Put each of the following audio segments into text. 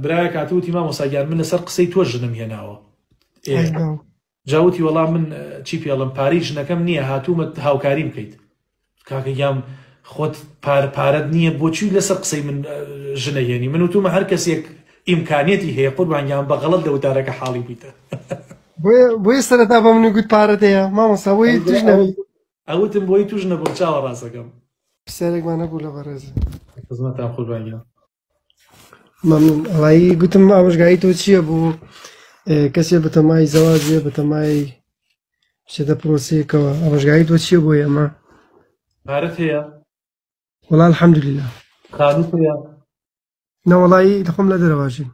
برایەک هاتو وتی مامۆسا گیان من لەسەر قسەی تۆ ژنم هێناوە جاوتی وەڵام من چی پێڵم پارەی ژنەکەم نییە هاتوومە هاوکاریم بکەیت کاکە گیام خۆت پارەت نییە بۆچوی لەسەر قسەی من ژنە هێنی من وتومە هەر کەسێک ئیمکانیەتی هەیە قوربانگیان بە غەڵت لە وتارەکە حاڵی بیتە بۆی سەرتا بە منی گوت پارەت هەیە مامۆسا بۆی توش نەوی ئەوتم بۆی توش نەبوو چاوە ڕاستەکەم پرسیارێکمان هەبوو لە بەڕێز خزمەتان قوربانگیان مەمنون ئەڵایی گوتم ئامۆژگاری تۆ چییە بۆ کەسێ بەتەمای زەواجێ بەتەمای شێتە پرۆسەیەکەوە ئامۆژگاری تۆ چییە بۆ ئێمە پارەت هەیە وڵا الحەمدللا خانوت هەیە نەوەڵایی دەخۆم لە دەرەواژی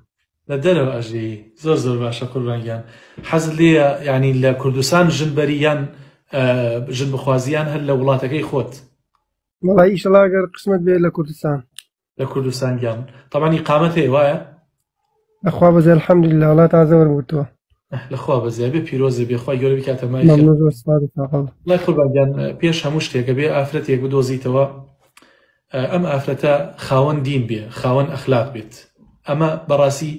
لە دەرەوە ئەژێ زۆر زۆر باشە قوربانگیان حەز لێ ینی لە کوردستان ژن بەری یان ژن بخوازیان هەر لە وڵاتەکەی خۆت وڵی ئیشەڵاگەر قسمت بێ لە کوردستان لە کوردستان گیان طبعا ئیقامەت هەیە وایە لەخوا بەزێ الحەمدللە وڵا تازە وەرگرتووە لەخوا بەزێ بێ پیرۆزێ بێخوای گەورە بکاتە مای خێر. مەمنون زۆر سپاس تاقەڵ لای قوربان گیان پێش هەموو شتێکە بێ ئافرەتێک بدۆزیتەوە ئەم ئافرەتە خاوەن دین بێ خاوەن ئەخلاق بێت ئەمە بەڕاستی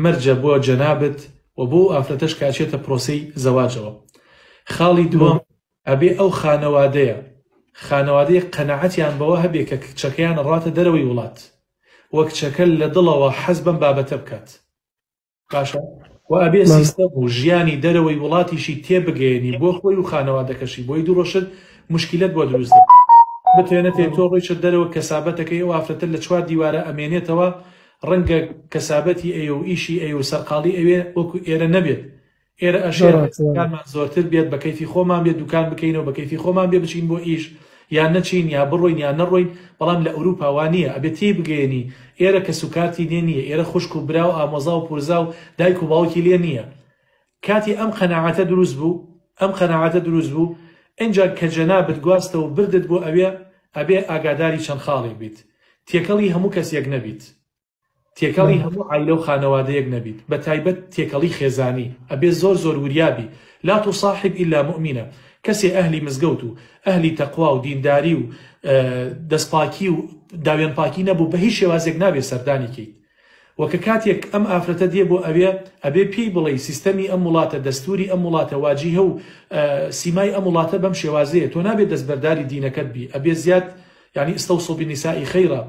مەرجە بۆ جەنابت و بۆ ئافرەتەش کاچێتە پرۆسەی زەواجەوە خاڵی دووەم ئەبێ ئەو خانەوادەیە خانەوادەیەک قەناعەتیان بەوە هەبێ کە کچەکەیان ئەڕاتە دەرەوەی وڵات و کچەکە لە دڵەوە حەز بەم بابەتە بکات باشە و ئەبێ سیستەم و ژیانی دەرەوەی وڵاتیشی تێبگەیەنی بۆ خۆی و خانەوادەکەشی بۆی دوڕۆشت مشکیلەت بۆ دروست دەکات بتێنەتێ تۆ ڕۆیشت دەرەوە کەسابەتەکەی ئەو ئافرەتە لە چوار دیوارە ئەمێنێتەوە ڕەنگە کەسابەتی ئەیە و ئیشی ئەیە و سەرقاڵی ئەوێ وەکو ئێرە نەبێت ئێرە ئەشێ کارمان زۆرتر بێت بە کەیفی خۆمان بێت دوکان بکەینەوە بە کەیفی خۆمان بێ بچین بۆ ئیش یان نەچین یا بڕۆین یان نەڕۆین بەڵام لە ئەوروپا وا نییە ئەبێت تێی بگەیەنی ئێرە کەس و کارتی لێ نییە ئێرە خوشک و برا و ئامۆزا و پورزا و دایک و باوکی لێ نییە کاتی ئەم قەناعەتە دروست بوو ئەم قەناعەتە دروست بوو ئەجا کە جەنابت گواستە و بردت بۆ ئەوێ ئەبێ ئاگاداری چەند خاڵێک بیت تێکەڵی هەموو کەسێک نەبیت تێکەڵی هەموو عایلە و خانەوادەیەک نەبیت بە تایبەت تێکەڵی خێزانی ئەبێ زۆر زۆر وریا بی لا تصاحب الا مؤمنە کەسێ ئەهلی مزگەوت و ئەهلی تەقوا و دینداری و دەست پاکی و داوێن پاکی نەبوو بە هیچ شێوازێک نابێ سەردانی کەیت وە کە کاتێک ئەم ئافرەتە دێ بۆ ئەوێ ئەبێ پێی بڵێی سیستەمی ئەم وڵاتە دەستوری ئەم وڵاتە واجیهە و سیمای ئەم وڵاتە بەم شێوازەیە تۆ نابێت دەستبەرداری دینەکەت بی ئەبێ زیاد یعنی استوصوا بالنساء خیرا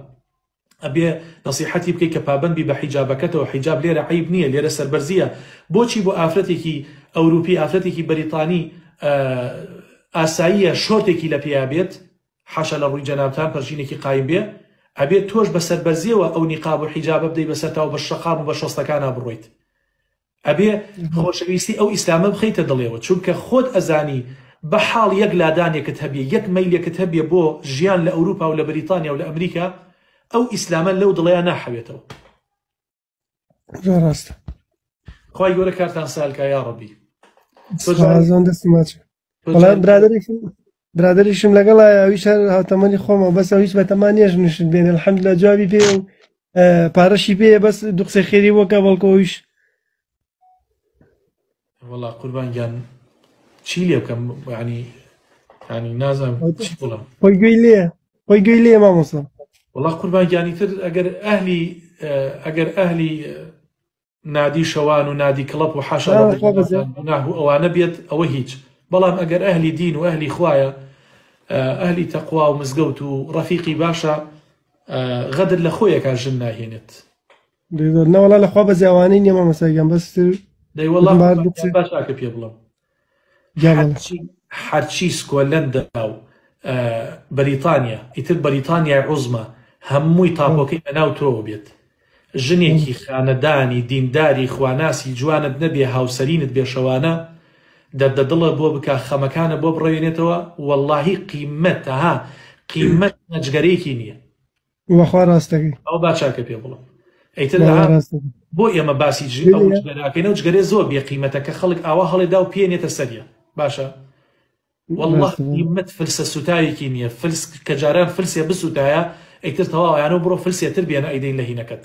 ئەبێ نەسیحەتی بکەی کە پابەند بی بە حیجابەکەتەوە حیجاب لێرە عەیب نییە لێرە سەربەرزییە بۆچی بۆ ئافرەتێکی ئەوروپی ئافرەتێکی بەریتانی ئاساییە شۆرتێکی لە پێیا بێت حاشا لە ڕووی جەنابتان پەرژینێکی قایم بێ ئەبێت تۆش بە سەربەرزیەوە ئەو نیقاب و حیجابە بدەی بەسەرتاو بە شەقام و بە شۆستەکانا بڕۆیت ئەبێ خۆشەویستی ئەو ئیسلامە بخەیتە دڵێوە چونکە خۆت ئەزانی بەحاڵ یەک لادانێکت هەبێ یەک مەیلێکت هەبێ بۆ ژیان لە ئەوروپا و لە بریتانیا و لە ئەمریکا ئەو ئیسلامە لەو دڵەیا ناحەوێتەوە زۆر ڕاستە خوای گەورە کارتان سالکە یا ڕەبی سۆزان دەستی ماچ بەڵام برادێکی برادریشم لەگەڵایە ئەویش هەر هاوتەمەنی خۆمە بەس ئەویش بەتەما نێژ نشت بێنێ الحمد لە جوابی پێ و پارەشی پێ بەس دوو قسەی خێری وەکە بەڵکۆویش وڵا قوربان گیان چی لێ بکەم ینی ینی نازانم چی بڵم خۆی گوێی لێ خۆی گوێی لێ مامۆسا وڵا قوربان گیانی تر ئەگەر ئەهلی ئەگەر ئەهلی نادی شەوان و نادی کڵەپ و حاشا لە ڕووی ئەوانەتان گوناه و ئەوانە بێت ئەوە هیچ بەڵام ئەگەر ئەهلی دین و ئەهلی خوایە ئەهلی تەقوا و مزگەوت و ڕەفیقی باشە غەدر لە خۆیەکە ژن ناهێنێت نەوەڵا لەخوا بەزیاوانەی نیە مامەساگیان بەستر دەیوەڵام باشاکە پێ بڵم هەرچی سکۆلەندا و بەریتانیا ئیتر بەریتانیای عوزما هەمووی تاپۆکەی بەناو تۆوە بێت ژنێکی خانەدانی دینداری خواناسی جوانت نەبێ هاوسەرینت بێ شەوانە دەردە دڵە بۆ بکە خەمەکانە بۆ بڕەوێنێتەوە وەڵاهی قیمەتە ها قیمەت نەجگەرێکی نییە وە خوا ڕاست دەکەی. ئەوە با چاکە پێ بڵێ ئەیتر لە وەڵا ڕاست دەکەی. بۆ ئێمە باسی جی ئەو دەیە جگەرە ئەکەینەو جگەرە زۆر بێ قیمەتە کە خەڵک ئاوا هەڵێ داو پێ نێتە سەریان باشە وەڵا ڕاستە وەڵا قیمەت فلسە سوتاوێکی نیە فلس کە جاران فلسێ بسوتایە ئەیتر تەواوە یانەو بڕۆ فلسێ تر بێنە ئەیدەی لە هینەکەت.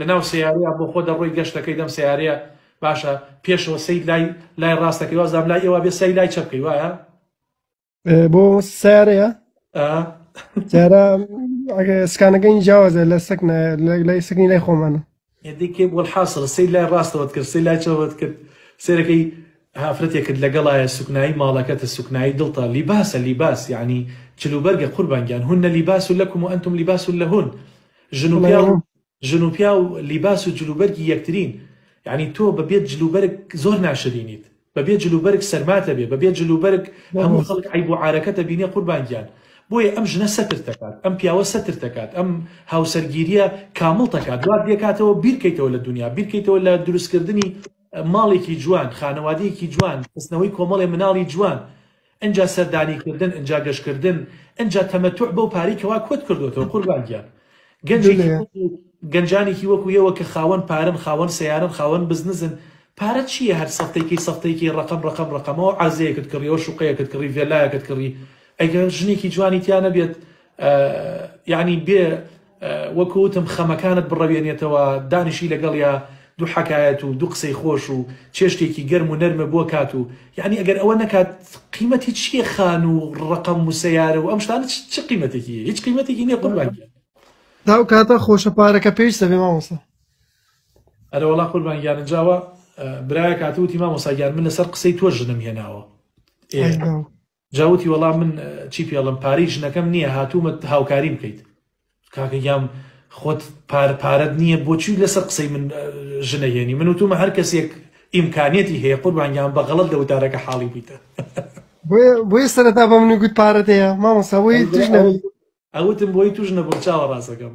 لە ناو سەیارەیە بۆ خۆ دەڕۆی گەشت دەکەی دەم سەیارەیە باشە پێشەوە سەید لای لای ڕاست دەکەی وازدام لای ئێوە بێ سەی لای چەپ کەی وایە بۆ سارەیە جارە سکانەکەی جیاوازە لە سەک لای سکنی لای خۆمانە یدیکێ بۆ حاصل سەی لای ڕاستەوەت کرد سەی لای چەوەت کرد سێرەکەی هافرەتێک کرد لەگەڵایە سوکنایی ماڵەکەتە سوکنایی دڵتە لیباسە لیباس یعنی چلوبەرگە قوربانگیان هونە لیباس و لەکم و ئەنتم لیباس و لە هون ژن و ژن و پیاو لیباس و جلوبەرگی یەکترین یانی تۆ بە بێ جلوبەرگ زۆر ناشرینیت بە بێ جلوبەرگ سەرمات ئەبێ بە بێ جلوبەرگ هەموو خەڵک عەیب و عارەکەت ئەبینێ قوربان گیان بۆیە ئەم ژنە سەترت ئەکات ئەم پیاوە سەترت ئەکات ئەم هاوسەرگیریە کامڵت ئەکات وات لێ کاتەوە بیر کەیتەوە لە دونیا بیر کەیتەوە لە دروست کردنی ماڵێکی جوان خانەوادەیەکی جوان خستنەوەی کۆمەڵێ مناڵی جوان ئنجا سەردانی کردن ئنجا گەشت کردن ئنجا تەمەتوع بەو پارەی کەوا کۆت کردۆتەوە قوربان گیان گەنجێکی وەکو گەنجانێکی وەکو ئێوە کە خاوەن پارەن خاوەن سەیارەن خاوەن بزنزن پارە چیە هەر سەفتەیکەی سەفتەیکەی ڕەقەم ڕەقەم ڕەقەمەوە عەرزەیەکت کڕیەوە شوقەیەکت کڕی ڤێلایەکت کڕی ئەگەر ژنێکی جوانی تیا نەبێت یانی بێ وەکو وتم خەمەکانت بڕەوێنێتەوە دانیشی لەگەڵیا دوو حەکایەت و دوو قسەی خۆش و چێشتێکی گەرم و نەرمە بۆ کات و یەعنی ئەگەر ئەوە نەکات قیمەتی چیە خان و ڕەقەم و سەیارە و ئەم شتانە چ قیمەتێکی هەیە هیچ قیمەتێکی نیە قوربان گیان. ئەو کاتە خۆشە پارەکە پێویستە بێ مامۆستا. ئەرە وەڵا قوربان گیان ئنجاوە برایەک هاتووتی مامۆستا گیان من لەسەر قسەی تۆ ژنم هێناوە ئێ. جا وتی وەڵا من چی پێڵم پارەی ژنەکەم نییە هاتوومە هاوکاریم بکەیت کاکە گیام خۆت پار پارەت نییە بۆچی لەسەر قسەی من ژنەهێنی من وتومە هەر کەسێک ئیمکانیەتی هەیە قوربانگیان بەغڵت لە وتارەکە حاڵی بیتە بۆیە سەرەتا بە منی گوت پارەت هەیە مامۆستا بۆی توش نەبی ئەوتم بۆی توش نەبوو چاوە ڕاستەکەم